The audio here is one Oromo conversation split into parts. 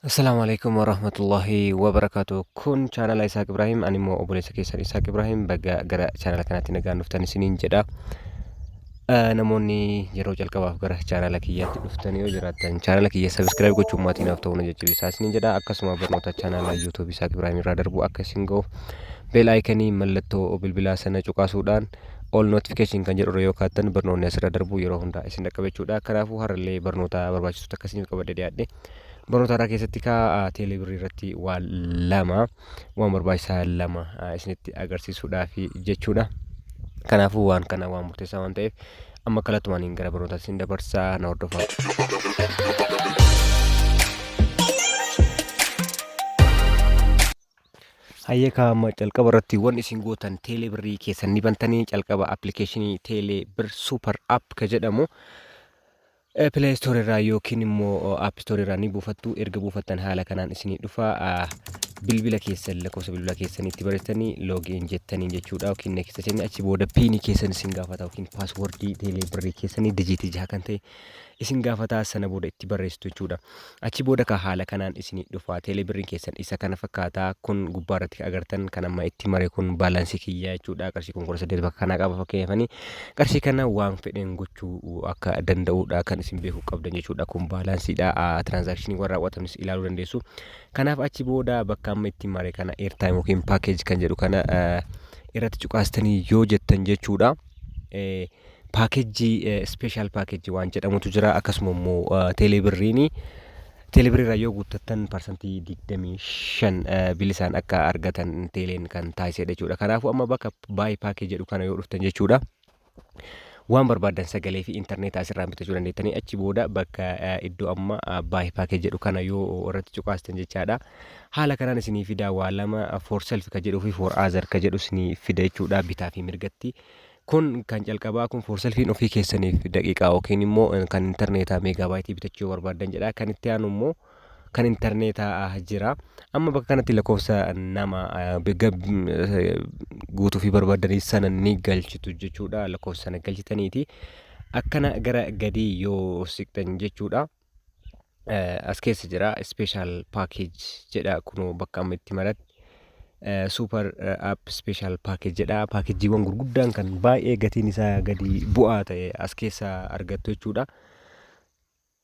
Assalamu alaikum warahmatullahi wabarakatuh. Kun chaanala Isaaq Ibrahim, ani immoo obboleessa keessan Isaaq Ibrahim baga gara chaanala kanaatti nagaan dhuftan isiniin jedha. Eh, Namoonni yeroo jalqabaaf gara chaanala kiyyaatti dhuftan yoo jiraattan chaanala kiyya sabiskiraayib gochuun maatii naaf ta'uu na jajjabeessaa isiniin jedha. Akkasuma barnoota chaanala YouTube Isaaq Ibrahim irraa darbu akka isin ga'uuf beel aayikanii mallattoo bilbilaa sana cuqaasuudhaan all notification kan jedhu irra yoo kaattan barnoonni asirra darbu yeroo hundaa isin dhaqqaba jechuudha. Kanaafuu har'allee barnoota barbaachisutti akka isiniif qabadde dhiyaadhe. Barnoota har'aa keessatti kaa teelee birrii irratti waan lama waan barbaachisaa lama ah, isinitti agarsiisuudhaaf jechuudha. Kanaafuu waan kana waan murteessaa waan ta'eef amma kallattumaan gara barnootaatti isin dabarsaa na hordofaa. Hayyee kaa amma calqaba irratti wan isin gootan teelee birrii keessan ni bantanii calqaba appilikeeshinii teelee bir super app ka jedhamu pilee istoor irraa yookiin immoo app istoor irraa ni buufattu erga buufattan haala kanaan isinii dhufa ah, bilbila keessan lakkoofsa bilbila keessan itti barreessanii loogiin jettanii jechuudha yookiin neekista jennee achi booda piinii keessan isin gaafata yookiin paaswordii teelee birrii keessanii dijiitii jaha kan ta'e isin gaafataa sana booda itti barreessitu jechuudha. Achi booda ka haala kanaan isinii dhufa teelee birriin keessan isa kana fakkaata kun gubbaa irratti ka agartan kan amma itti mare kun baalaansii kiyya jechuudha qarshii kun kudha saddeet bakka kanaa qaba fakkeenyafanii qarshii kana waan fedheen gochuu akka danda'uudha kan isin beekuu qabdan jechuudha kun baalaansiidha tiraansaakshinii warra raawwatanis ilaaluu dandeessu kanaaf achi booda bakka amma itti mare kana eertaayim yookiin paakeeji kan jedhu kana irratti cuqaastanii yoo jettan jechuudha. paakejjii ispeeshaal paakejjii waan jedhamutu jira akkasuma immoo teelee birriini teelee birriirraa yoo guuttattan parsantii 25 bilisaan akka argatan teeleen kan taasisedha jechuudha kanaafuu amma bakka baay paakee jedhu kana yoo dhuftan jechuudha waan barbaadan sagalee fi intarneetaa asirraan bitachuu dandeettanii achi booda bakka iddoo amma baay paakee jedhu kana yoo irratti cuqaastan jechaadha haala kanaan isinii fidaa waa lama for self ka jedhuu fi for other ka jedhu isinii fida jechuudha bitaa fi mirgatti Kun kan calqabaa kun for selfiin ofii keessaniif daqiiqaa yookiin immoo kan interneetaa meegaabaayitii bitachuu yoo barbaaddan jedha. Kan itti aanu immoo kan interneetaa jira. Amma bakka kanatti lakkoofsa nama guutuu fi barbaaddan sana ni galchitu jechuudha. Lakkoofsa sana galchitaniiti akkana gara gadii yoo siqxan jechuudha. eh, as keessa jira special package jedha kunoo bakka amma itti maratti eh, super eh, app special package jedha paakejiiwwan gurguddaan kan baay'ee gatiin isaa gadi bu'aa ta'e as keessa argattu jechuudha.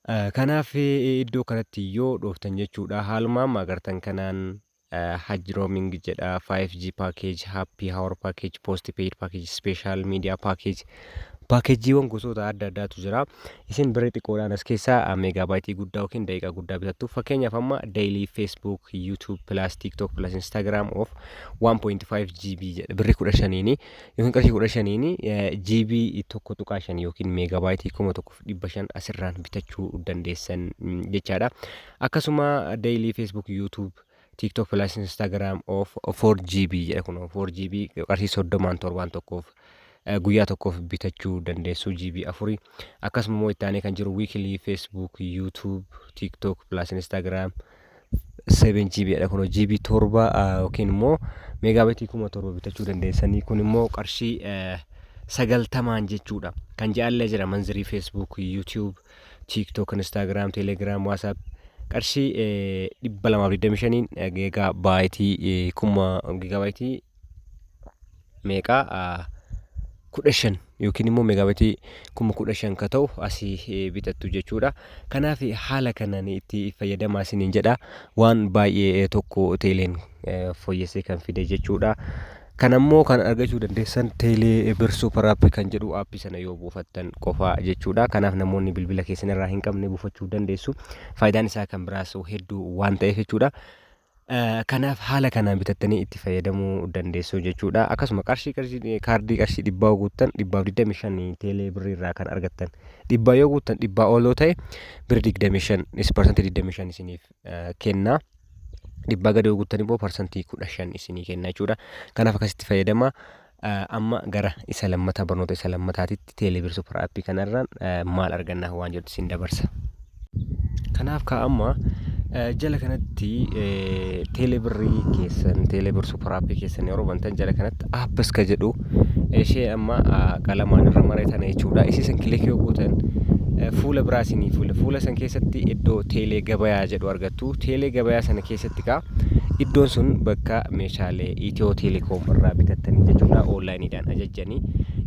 Eh, Kanaaf eh, iddoo kanatti yoo dhooftan jechuudha haaluma amma agartan kanaan Hajji Roaming jedha, 5G package, Happy Hour package, Postpaid package, Special Media package. Paakeejiiwwan gosoota adda addaatu jira. Isin birrii xiqqoodhaan as keessaa meegaabaayitii guddaa yookiin daqiiqaa guddaa bitattu. Fakkeenyaaf amma daily Facebook, YouTube, plus TikTok, plus Instagram of 1.5 GB jedha birrii 15 yookiin qarshii 15 GB 1.5 yookiin meegaabaayitii 1500 asirraan bitachuu dandeessan jechaadha. Akkasuma daily Facebook, YouTube, TikTok plus Instagram of 4GB jedha kun 4GB qarshii soddomaan torbaan tokkoof eh, guyyaa tokkoof bitachuu dandeessu GB afuri. Akkasuma immoo itti aanee kan jiru weekly Facebook, YouTube, TikTok plus Instagram 7GB dha kun GB torba ah, yookiin immoo meegaabitii kuma torba bitachuu dandeessanii kun immoo qarshii eh, sagaltamaan jechuudha. Kan jaallee jira manzirii Facebook, YouTube, TikTok, Instagram, Telegram, WhatsApp qarshii eh, 225n eh, gigaa baayitii eh, kuma gigaa baayitii meeqaa ah, kudha shan yookiin immoo meegaabatii kuma kudha shan ka ta'u asii eh, bitattu jechuudha. Kanaaf eh, haala kanaan itti fayyadamaa isiniin jedha. Waan baay'ee eh, tokko teeleen eh, fooyyessee kan fide jechuudha. Kana immoo kan argachuu dandeessan Teelee Bir Super App kan jedhu aappii sana yoo buufattan qofa jechuudha. Kanaaf namoonni bilbila keessan irraa hin qabne buufachuu dandeessu. Faayidaan isaa kan biraas hedduu waan ta'eef jechuudha. Eh, Kanaaf haala kanaan bitattanii itti fayyadamuu dandeessu jechuudha. Akkasuma qarshii qarshii kaardii qarshii dhibbaa yoo guuttan dhibbaaf 25 teelee birrii irraa kan argattan. Dhibbaa yoo guuttan dhibbaa ol yoo ta'e birri 25 is parsantii 25 isiniif kenna. Dhibbaa gadi yoo guuttan immoo parsantii kudha shan isinii kenna jechuudha. Kanaaf akkasitti fayyadama. Amma gara isa lammataa barnoota isa lammataatitti teeleebir supar aappii kanarraan maal arganna waan jedhu isin dabarsa. Kanaaf kaa amma jala kanatti teeleebirrii keessan teeleebir supar aappii keessan yeroo bantan jala kanatti Whatsapp apps ka jedhu ishee amma qalamaan irra maree tana jechuudha. Isii san kilik yoo gootan fuula biraa isinii fuula. Fuula san keessatti iddoo teelee gabayaa jedhu argattu. Teelee gabayaa sana keessatti kaa iddoon sun bakka meeshaalee Itiyoo Teelekoom irraa bitattanii jechuudha. Oonlaayiniidhaan ajajjanii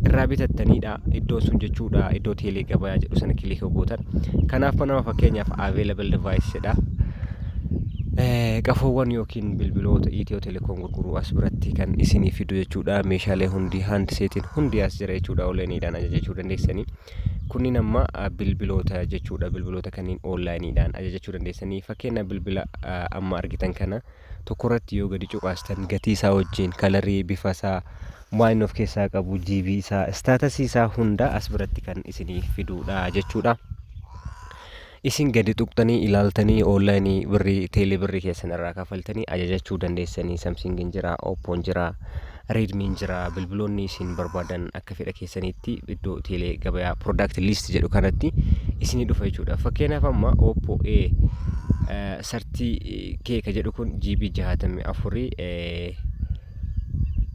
irraa bitattaniidha. Iddoon sun jechuudha iddoo teelee gabayaa jedhu sana kilik yoo gootan. Kanaaf nama fakkeenyaaf available device jedha. Qafoowwan yookiin bilbiloota Itiyoo Likon gurguru as biratti kan isinii fidu jechuudha meeshaalee hundi hand seetiin hundi as jira jechuudha onlaayiniidhaan ajajachuu dandeessanii kunniin amma bilbiloota jechuudha bilbiloota kanneen onlaayiniidhaan ajajachuu dandeessanii fakkeenya bilbila amma argitan kana tokko irratti yoo gadi cuqaastan gatii isaa wajjin kalarii bifa isaa waan of keessaa qabu jiibii isaa istaatasii isaa hunda as biratti kan isinii fiduudha jechuudha. Isin gadi tuqxanii ilaaltanii online birrii teelee birrii keessan irraa kafaltanii ajajachuu dandeessanii Samsung hin jira, Oppo hin jira, Redmi hin jira bilbiloonni isin barbaadan akka fedha keessaniitti iddoo teelee gabayaa product list jedhu kanatti isinii dhufa jechuudha. Fakkeenyaaf amma Oppo A eh, 30K ka jedhu kun GB 64 eh,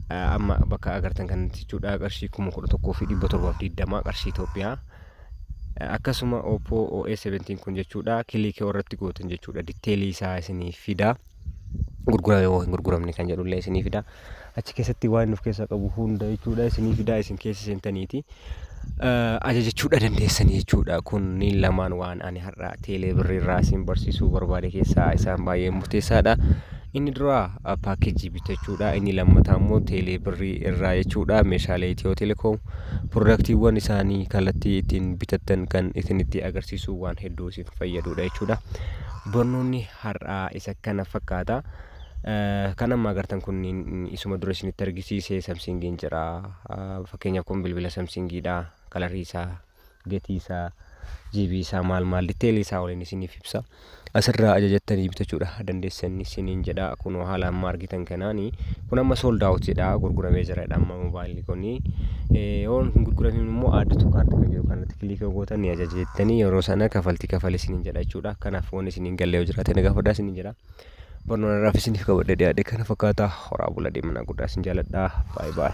eh, amma bakka agartan kanatti jechuudha qarshii 11,720 qarshii Itoophiyaa Akkasuma Oppo OS17 kun jechuudha kiliikii irratti gootan jechuudha ditteelii isaa isiniif fida. Gurgurame moo hin gurguramne kan jedhullee isiniif fida. Achi keessatti waan inni of keessaa qabu hunda jechuudha isiniif fida isin keessa seentaniiti. Ajajachuudha dandeessanii jechuudha kunniin lamaan waan ani har'a teelee birriirraa isin barsiisuu barbaade keessaa isaan baay'ee murteessaadha. Inni duraa paakkeejii bitachuudha. Inni lammataa immoo teelee birrii irraa jechuudha. Meeshaalee Itiyoo Telekoom piroodaaktiiwwan isaanii kallattii ittiin bitattan kan isinitti agarsiisu waan hedduu isin fayyadudha jechuudha. Barnoonni har'aa isa kana fakkaata. Kan amma agartan kunniin isuma dura isinitti argisiise samsingiin jira. Fakkeenyaaf kun bilbila samsingiidha. Kalarii isaa gatii isaa GB isaa maal maal detail isaa waliin isiniif ibsa asirraa ajajattanii bitachuudha dandeessan isiniin jedha kunoo haala amma argitan kanaani kun amma sold out jedha gurguramee jira jedha amma mobaayilli kuni yoon hin gurguramin immoo add to cart kan jedhu kanatti kiliik yoo gootan ni ajaja jettanii yeroo sana kafaltii kafale isiniin jedha jechuudha kanaaf waan isiniin galle yoo jiraate na gaafadhaa isiniin jedha barnoota irraaf isiniif qabadhe dhiyaadhe kana fakkaata horaa bula deemnaa guddaa isin jaaladha baay baay